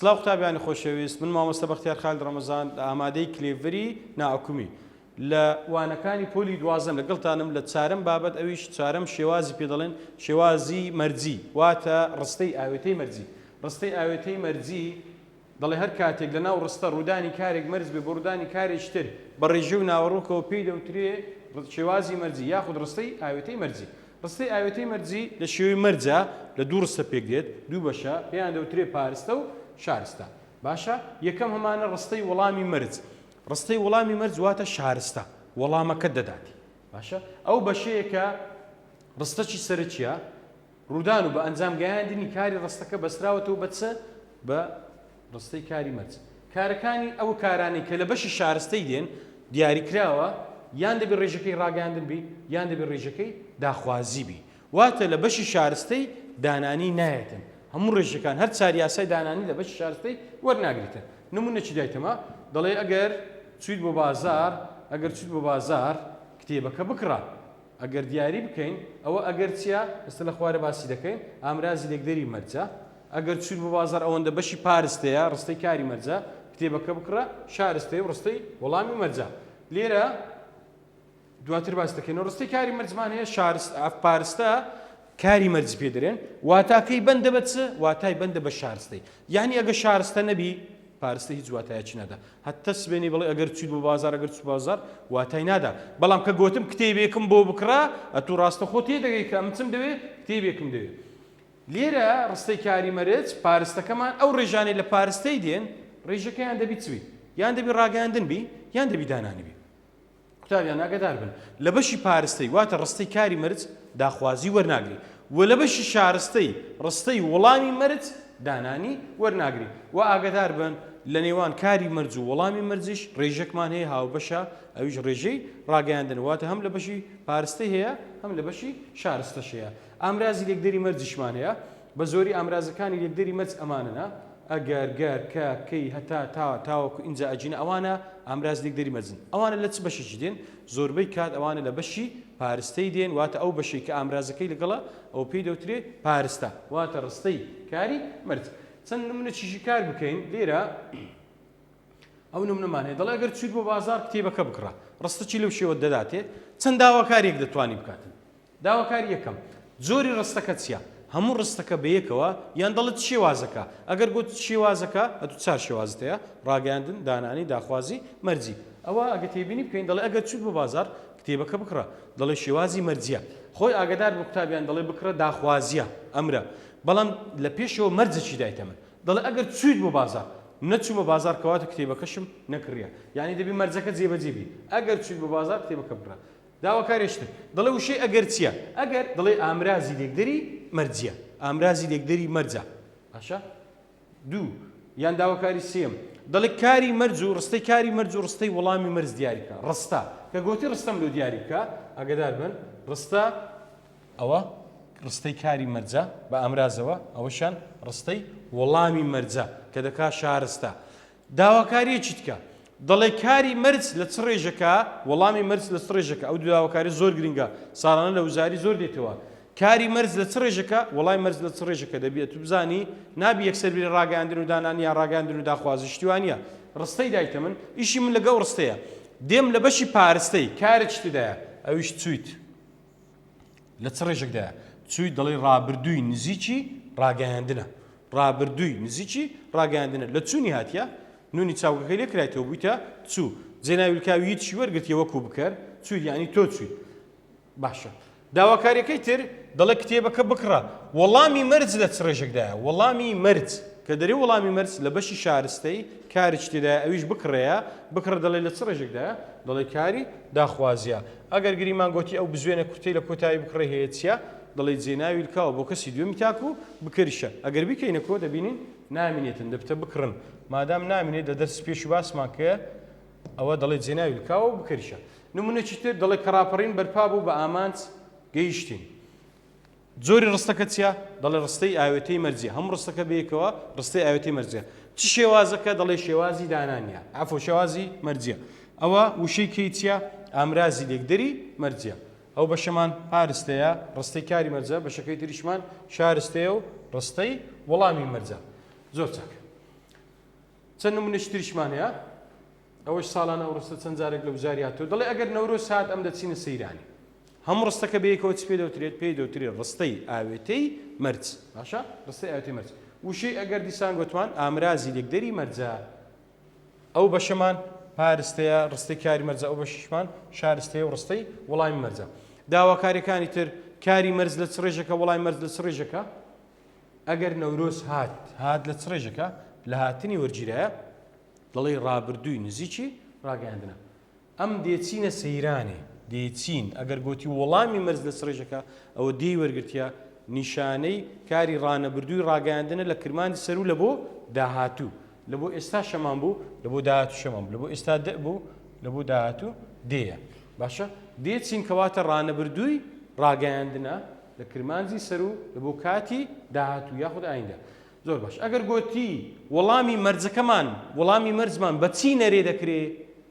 سلاو قوتابیانی خۆشەویست من مامۆستا بەختیار خالد ڕەمەزان لە ئامادەی کلێڤری ناحکومی لە وانەکانی پۆلی دوازم لەگەڵتانم لە چارم بابەت ئەویش چارم شێوازی پێ دەڵێن شێوازی مەرجی واتە ڕستەی ئاوێتەی مەرجی ڕستەی ئاوێتەی مەرجی دەڵێ هەر کاتێک لە ناو ڕستە ڕوودانی کارێک مەرج بێ بۆ ڕوودانی کارێکی تر، بە ڕێژە و ناوەڕۆکەوە پێی دەوترێ شێوازی مەرجی یاخود ڕستەی ئاوێتەی مەرجی. ڕستەی ئاوێتەی مەرجی لە شێوەی مەرجە لە دوو ڕستە پێک دێت، دوو بەشە، پێیان دەوترێ پارستە و شارستە. باشە یەکەم هەمانە ڕستەی وەڵامی مەرج. ڕستەی وەڵامی مەرج واتە شارستە، وەڵامەکەت دەداتێ. باشە ئەو بەشەیە کە ڕستەی سەرەکییە، ڕوودان و بە ئەنجام گەیاندنی کاری ڕستەکە بەستراوەتەوە بە چ؟ بە ڕستەی کاری مەرج. کارەکانی، ئەو کارانەی کە لە بەشی شارستەی دێن، دیاری کراوە، یان دەبێ ڕێژەکەی ڕاگەیاندن بی، یان دەبێ ڕێژەکەی داخوازی بی. واتە لە بەشی شارستەی دانانی نایەتن. هەموو ڕێژەکان، هەر چار یاسای دانانی لە بەشی شارستەی وەرناگریتن. نموونەکی دایتەمە، دەڵێ ئەگەر چوویت بۆ بازار، ئەگەر چوویت بۆ بازار، کتێبەکە بکڕە. ئەگەر دیاری بکەین، ئەوە ئەگەر چیە؟ ئێستا لە خوارێ باسی دەکەین، ئامرازی لێکدەری مەرجە، ئەگەر چوویت بۆ بازاڕ ئەوەندە بەشی پارستەیە، ڕستەی کاری مەرجە، کتێبەکە بکڕە، شارستەی و ڕستەی وەڵامی مەرجە. لێرە دواتر باس دەکەینەوە. ڕستەی کاری مەرجمان هەیە، شارست، پارستە، کاری مەرج پێ دەرێن واتاکەی بەندە بە چ واتای بەندە بە شارستەی یعنی ئەگە شارستە نەبی پارستە هیچ واتایەکی نادا هەتە سبێنی بڵێ ئەگەر چیت بۆ بازار ئەگەر چ بازار واتای نادا بەڵام کە گوتم کتێبێکم بۆ بکڕە ئەتو ڕاستە خۆ تێ دەگەی کە ئەمچم دەوێ کتێبێکم دەوێت لێرە ڕستەی کاری مەرج پارستەکەمان ئەو ڕێژانەی لە پارستەی دێن ڕێژەکەیان دەبی چوی یان دەبی ڕاگەاندن بی یان دەبی دانانبی قوتابیان ئاگادار بن لە بەشی پارستەی واتە ڕستەی کاری مەرج دا خوازی وەرناگرین و لە بەشی شارستەی ڕستەی وڵامی مەرج دانانی وەرناگرین و ئاگادار بن لە نێوان کاری مەرج و وەڵامی مەرجیش ڕێژەکمان هەیە هاوبەشە ئەویش ڕێژەی ڕاگەیاندن واتە هەم لە بەشی پارستەی هەیە هەم لە بەشی شارستەش هەیە ئامرازی لێکدەری مەرجیشمان هەیە بە زۆری ئامرازەکانی لێکدەری مەرج ئەمانەنە، ئەگەر، گەر، کە، کەی، هەتا، تا، تاوەکو، ئینجا، ئەجینا، ئەوانە ئامراز لێکدەری مەرجن. ئەوانە لە چ بەشێکی دێن؟ زۆربەی کات ئەوانە لە بەشی پارستەی دێن، واتە ئەو بەشەی کە ئامرازەکەی لەگەڵە ئەوە پێی دەوترێ پارستە، واتە ڕستەی کاری مەرج. چەند نمونەچیشی کار بکەین، لێرە ئەو نمونەمان هەیە دەڵێ ئەگەر چوویت بۆ بازاڕ کتێبەکە بکڕە، ڕستەچی لەو شێوە دەداتێ چەند داواکاریەک دەتوانی بکاتن. داواکاری یەکەم جۆری ڕستەکە چیە؟ هەموو ڕستەکە بەیەکەوە یان دەڵێت شێوازەکە؟ ئەگەر گوت شێوازەکە ئەتوو چار شێوازت هەیە، ڕاگەیاندن، دانانی، داخوازی، مەرجی. ئەوا ئەگە تێبینی بکەین دەڵێ ئەگەر چووت بۆ بازاڕ کتێبەکە بکڕە، دەڵێ شێوازی مەرجیە. خۆی ئاگەدار بوو قوتابیان دەڵێ بکڕە داخوازیە، ئەمرە. بەڵام لە پێشەوە مەرجەکی دایتە من. دەڵێ ئەگەر چوویت بۆ بازاڕ. نەچوومە بازاڕ کەواتە کتێبەکەشم نەکڕیە. یانی دەبێ مەرجەکە جێبەجێ بی. ئەگەر چوویت بۆ بازاڕ کتێبەکە بکڕە. داواکاریش تر دەڵێ وشەی ئەگەر چییە؟ ئەگەر دەڵێ ئامرازی لێکدەری مەرجییە، ئامرازی لێکدەری مەرجە. باشە؟ دوو، یان داواکاری سێیەم، دەڵێ کاری مەرج و ڕستەی کاری مەرج و ڕستەی وەڵامی مەرج دیاری بکە. ڕستە، کە گۆتی ڕستەم لۆ دیاری بکە، ئاگەدار بن، ڕستە، ئەوە ڕستەی کاری مەرجە بە ئامرازەوە، ئەوەشیان ڕستەی وەڵامی مەرجە کە دەکا شارستە. داواکارییەکی تکە دەڵێ کاری مەرج لە چ ڕێژەکە وەڵامی مەرج لە چ ڕێژەکە ئەو دوو داواکاریە زۆر گرنگە ساڵانە لە وزاری زۆر دێتەوە کاری مەرج لە چ ڕێژەکە وەڵای مەرج لە چ ڕێژەکە دەبیێت تو بزانی نابی یەکسەر بری ڕاگەاندن و دانانی یا ڕاگەاندن و داخوازی شتیوانە ڕستەی دایتە من ئیشی من لەگەڵ ڕستەیە دێم لە بەشی پارستەی کارێک شتدایە ئەویش چویت لە چ ڕێژێکدایە چووی دەڵێی ڕابردووی نزیکی ڕاگەیاندنە ڕابردووی نزیکی ڕاگەیاندنە لە چوونی هاتیە نونی چاوگەکەی لێ کرایتەوە بوویتە چوو جێناویلکاوی هیچی وەرگرتیە وەکو بکەر چووی یعنی تۆ چووی باشە داواکاریەکەی تر دەڵێ کتێبەکە بکڕە وەڵامی مەرج لە چ ڕێژێکدایە وەڵامی مەرج کە دەری وەڵامی مەرج لە بەشی شارستەی کاریش تێدا ئەویش بکڕەیە بکڕە دەڵێ لە چ ڕێژێکدایە دەڵێ کاری داخوازیە ئەگەر گریمان گۆتی ئەو بزوێنە کورتەی لە کۆتایی بکڕەی هەیە چیە؟ دەڵێی جێ ناوی لکاوە بۆ کەسی دوێمی تاکو بکەریشە ئەگەر بیکەینە کۆ دەبینین نامینێتن دەبتە بکڕن مادام نامینێت لە دەرسی پێشو باسمان کە ئەوە دەڵێی جێ ناوی لکاوە بکەریشە نمونەکی تر دەڵێ کە ڕاپەڕین بەرپا بوو بە ئامانج گەیشتین. جۆری ڕستەکە چیە؟ دەڵێ ڕستەی ئاوێتەی مەرجیە هەموو ڕستەکە بەیەکەوە ڕستەی ئاوێتەی مەرجە چ شێوازەکە؟ دەڵێ شێوازی دانانیە عەفو شێوازی مەرجیە ئەوە وشەی کەی چیە؟ ئامرازی لێکدەری مەرجیە ئەو بەشەمان پارستەیە ڕستەی کاری مەرجە بەشەکەی تریشمان شارستەیە و ڕستەی وەڵامی مەرجە زۆر چاک چەند نمونەشتریشمان هەیە ئەوەش ساڵان ئەو ڕستە چەند جارێک لە وزاری هاتووە، دەڵێ ئەگەر نەورۆز هات ئەم دەچینە سەیرانی. هەموو ڕستەکە بەیەکەوە چ پێ دەوترێت؟ پێی دەوترێت ڕستەی ئاوێتەی مەرج. باشە؟ ڕستەی ئاوێتەی مەرج. وشەی ئەگەر دیسان گۆتمان ئامرازی لێکدەری مەرجە. ئەو بەشەمان پارستەیە، ڕستەی کاری مەرجە، ئەو بەشیشمان شارستەیە و ڕستەی وەڵامی مەرجە. داواکاریەکانی تر، کاری مەرج لە چ ڕێژەکە، وەڵامی مەرج لە چ ڕێژەکە؟ ئەگەر نەورۆز هات، هات لە چ ڕێژەکە؟ لە هاتنی وەرگیرایە دەڵێی ڕابردووی نزیکی ڕاگەیاندنە. ئەم دێچینە سەیرانێ، دێچین، ئەگەر گۆتی وەڵامی مەرز لە سڕیژەکە، ئەوە دێی وەرگرتیە، نیشانەی کاری ڕانەبردووی ڕاگەیاندنە لە کرمانی سەروو لە بۆ داهاتوو. لە بۆ ئێستا شەمان بوو، لە بۆ داهاتوو شەمان بوو. لە بۆ ئێستا دئ بوو، لە بۆ داهاتوو دێیە. باشە؟ دێچین کەواتە ڕانەبردووی ڕاگەیاندنە لە کرمانجی سەروو لە بۆ کاتی داهاتوو یاخود ئایندە. زۆر باش ئەگەر گۆتی وەڵامی مەرجەکەمان وەڵامی مەرجمان بە چی نەرێ دەکرێ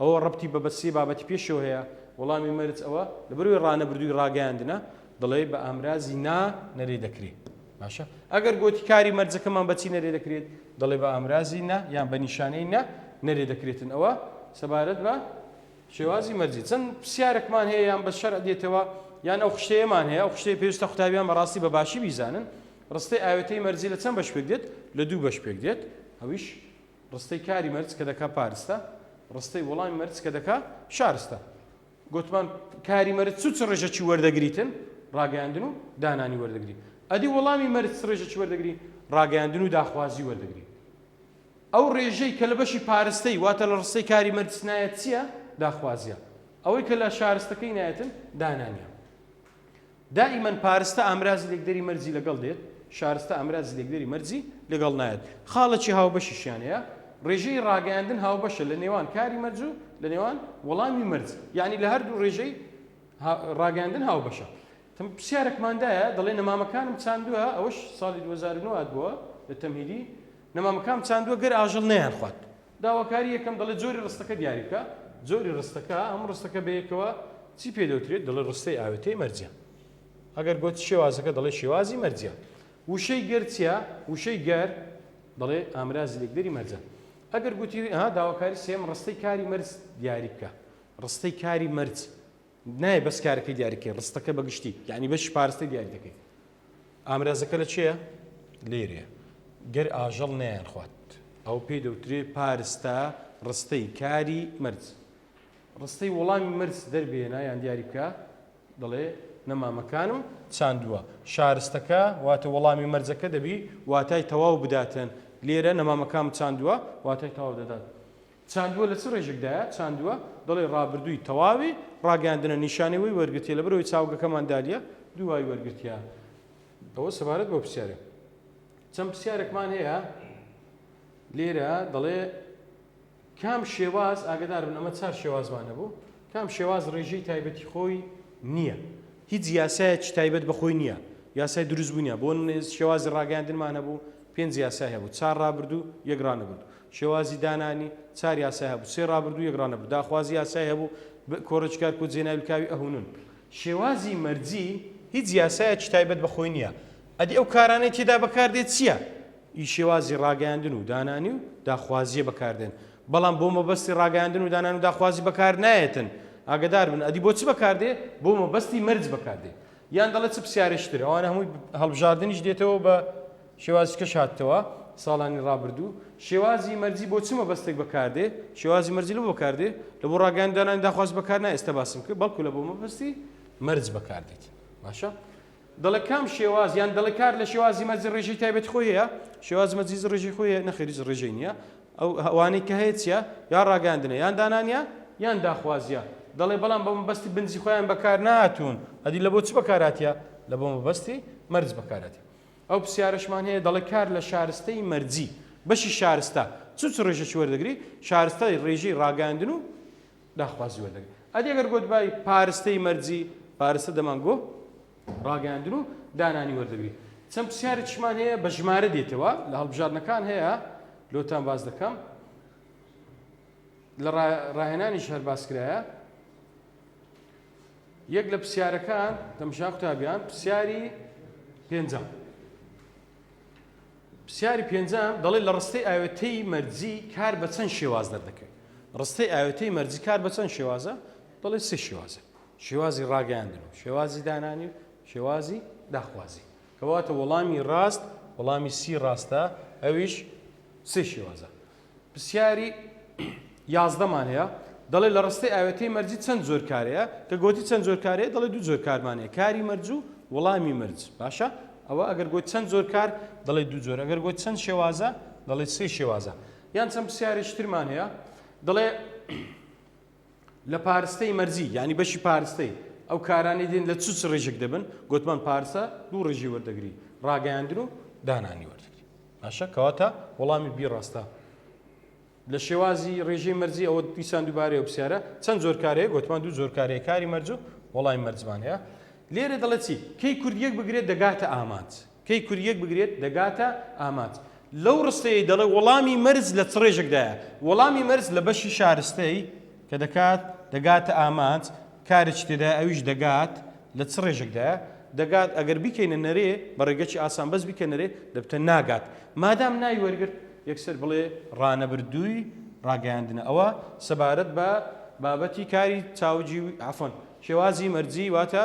ئەوە ڕەبتی بە بە سێ بابەتی پێشەوە هەیە وەڵامی مەرج ئەوە لەبەروی ڕانەبردووی ڕاگەیاندنە دەڵێ بە ئامرازی نا نەرێ دەکرێت باشە ئەگەر گۆتی کاری مەرجەکەمان بەچی نەرێ دەکرێت دەڵێ بە ئامرازی نا یان بە نیشانەی نا نەرێ دەکرێتن ئەوە سەبارەت بە شێوازی مەرجی چەند پرسیارێکمان هەیە یان بە شەر دێتەوە یان ئەو خشتەیەمان هەیە ئەو خشتەیە پێویستە قوتابیان بەڕاستی بە باشی بیزانن ڕستەی ئاوێتەی مەرجی لە چەند بەش پێک دێت؟ لە دوو بەش پێک دێت، ئەویش ڕستەی کاری مەرج کە دەکا پارستە، ڕستەی وەڵامی مەرج کە دەکا شارستە. گوتمان کاری مەرج چ و چ ڕێژەکی وەردەگریتن؟ ڕاگەیاندن و دانانی وەردەگری. ئەدی وەڵامی مەرج چ ڕێژەکی وەردەگری؟ ڕاگەیاندن و داخوازی وەردەگری. ئەو ڕێژەی کە لە بەشی پارستەی واتە لە ڕستەی کاری مەرج نایەت چییە؟ داخوازییە. ئەوەی کە لە شارستەکەی نایەتن دانانییە. دائیمەن پارستە ئامرازی لێکدەری مەرجی لەگەڵ دێت، شارستە ئامرازی لێکدەری مەرجی لەگەڵ نایەت. خاڵێکی هاوبەشیشیان هەیە، ڕێژەی ڕاگەیاندن هاوبەشە لە نێوان کاری مەرج و لە نێوان وەڵامی مەرج، یانی لە هەردوو ڕێژەی ڕاگەیاندن هاوبەشە. تم پرسیارەکمان دایە، دەڵێ نەمامەکانم چاندووە، ئەوەش ساڵی دوو هەزار و نۆ هاتبووە لە تەمهیدی، نەمامەکانم چاندووە گەر ئاژەڵ نەیانخوات. داواکاری یەکەم، دەڵێت جۆری ڕستەکە دیاری بکە. جۆری ڕستەکە، ئەم ڕستەکە بەیەکەوە چی پێ دەوترێت؟ دەڵێت ڕستەی ئاوێتەی مەرجە. ئەگەر گوت شێوازەکە، دەڵێت شێوازی مەرجە. وشەی گەر چییە؟ وشەی گەر، دەڵێت ئامرازی لێکدەری مەرجە. ئەگەر گوتی، ئەها داواکاری سێیەم، ڕستەی کاری مەرج دیاری بکە. ڕستەی کاری مەرج، نایە بەس کارەکەی دیاری بکەین، ڕستەکە بە گشتی، یانی بەشی پاراستەی دیاری دەکەین. ئامرازەکە لە کوێیە؟ لێرەیە. گەر ئاژەڵ نەیانخوات، ئەوە پێی دەوترێ پارستە، ڕستەی کاری مەرج. ڕستەی وەڵامی مەرج دەربهێنە یان دیاری بکە. دەڵێ، نەمامەکانم چاندووە. شارستەکە واتە وەڵامی مەرجەکە دەبی واتای تەواو بداتن. لێرە نەمامەکانم چاندووە واتای تەواو دەدات. چاندووە لە چ ڕێژێکدایە چاندووە؟ دەڵێی ڕابردووی تەواوی ڕاگەیاندنە نیشانەی وەی وەرگرتیە لەبەرئەوەی چاوگەکەمان دالیە دووای وەرگرتیە ئەوە سەبارەت بەو پرسیارە چەند پرسیارێکمان هەیە لێرە دەڵێ کام شێواز ئاگدار بن ئەمە چار شێوازمان هەبوو کام شێواز ڕێژەی تایبەتی خۆی نییە هیچ یاسایەکی تایبەت بەخۆی نییە یاسای دروست بوونیە بۆ شێوازی ڕاگەاندنمان هەبوو پێنج یاسای هەبوو چار ڕابردوو یەکڕانەبوو شێوازی دانانی چار یاسای هەبوو، سێ ڕابردوو یەک ڕانەبوو، داخوازی یاسای هەبوو، ب کۆڕەکی کار کۆ جێناویلکاوی ئەهونون. شێوازی مەرجی هیچ یاسایەکی تایبەت بە خۆی نییە، ئەدی ئەو کارانەی تێدا بەکار دێت چییە؟ ی شێوازی ڕاگەیاندن و دانانی و داخوازییە بەکار دێن، بەڵام بۆ مەبەستی ڕاگەیاندن و دانانی و داخوازی بەکار نایەتن، ئاگەدار بن، ئەدی بۆ چ بەکار دێ؟ بۆ مەبەستی مەرج بەکار دێ. یان دەڵێ چ پسیارێکی تر، ئەوانە هەمووی هەڵبژاردنیش دێتەوە بە. شێوازیکەش هاتتەوە ساڵانی ڕابردوو. شێوازی مەرجی بۆ چ مەبەستێک بەکاردێ؟ شێوازی مەرجی لەبۆ بەکاردێ؟ لە بۆ ڕاگەیاندانانی داخواز بەکار نایە ئێستا باسم کرد، بەڵکو لە بۆ مەبەستی مەرج بەکاردێت. باشە؟ دەڵێ کام شێواز یان دەڵێ کار لە شێوازی مەرج ڕێژەی تایبەتی خۆی هەیە؟ شێوازی مەرج هیچ ڕێژەی خۆی هەیە؟ نەخێر هیچ ڕێژەی نییە. ئەو ئەوانەی کە هەیە چییە؟ یا ڕاگەیاندنە یان دانانە یان داخوازییە. دەڵێ بەڵام بە مەبەستی بنجی خۆیان بەکار نەهاتوون. ئەدی لە بۆ چ بەکار هاتیە؟ لە بۆ مەبەستی مەرج بەکار هاتیە. ئەو پرسیارەشمان هەیە دەڵێت کار لە شارستەی مەرجی بەشی شارستە چ چ ڕێژەکی وەردەگری؟ شارستای ڕێژەی ڕاگەیاندن و داخوازی وەردەگری ئەدی گەر گۆت بای پارستەی مەرجی پارستە دەمان گۆ ڕاگەیاندن و دانانی وەردەگری چەند پرسیارێکشمان هەیە بە ژمارە دێتەوە لە هەڵبژاردنەکان هەیە لۆتان باز دەکەم لە ڕاهێنانیش هەر باسکرایە یەک لە پرسیارەکان دەمشا قوتابیان پرسیاری پێنجەم پرسیاری پێنجەم دەڵێت لە ڕستەی ئاوێتەی مەرجی کار بە چەند شێواز دەردەکەوێت ڕستەی ئاوێتەی مەرجی کار بە چەند شێوازە دەڵێت سێ شێوازە شێوازی ڕاگەیاندن و شێوازی دانانی و شێوازی داخوازی کەواتە وەڵامی ڕاست وەڵامی سی ڕاستە ئەویش سێ شێوازە پرسیاری یازدە مان هەیە دەڵێ لە ڕستەی ئاوێتەی مەرجی چەند جۆر کارەیە کە گۆتی چەند جۆر کارەیە دەڵێ دوو جۆر کارمان هەیە کاری مەرج و وڵامی مەرج باشە ئەوە ئەگەر گۆت چەند جۆر کار دەڵێ دوو جۆر ئەگەر گۆت چەند شێوازە دەڵێ سێ شێوازە یان چەند پرسیارێکی ترمان هەیە دەڵێ لە پارستەی مەرزی یانی بەشی پارستەی ئەو کارانەی دێن لە چ چ ڕیژێک دەبن گوتمان پارسە دوو ڕژی وەردەگری ڕاگەیاندن و دانانی وەردەگری باشە کەواتە وەڵامی بی ڕاستە لە شێوازی ڕێژەی مەرزی ئەوە دیسان دووبارەیە پرسیارە چەند جۆرکارەیە گوتمان دوو جۆرکارەیە کاری مەرج و وەڵامی مەرجمان هەیە لێرە دەڵێت چی کەی کوردیەک بگرێت دەگاتە ئامانج کەی کوریەک بگرێت دەگاتە ئامانج. لەو ڕستەیەی دەڵێت وەڵامی مەرج لە چ ڕێژێکدایە؟ وەڵامی مەرج لە بەشی شارستەی کە دەکات دەگاتە ئامانج کارێکی تێدایە ئەویش دەگات لە چ ڕێژێکدایە؟ دەگات ئەگەر بیکەینە نەرێ بە ڕێگەکی ئاسان بەس بیکە نەرێ دەبتە ناگات. مادام ناوی وەرگرت یەکسەر بڵێ ڕانەبردووی ڕاگەیاندنە ئەوە سەبارەت بە بابەتی کاری چاوگی عەفوەن شێوازی مەرجی واتە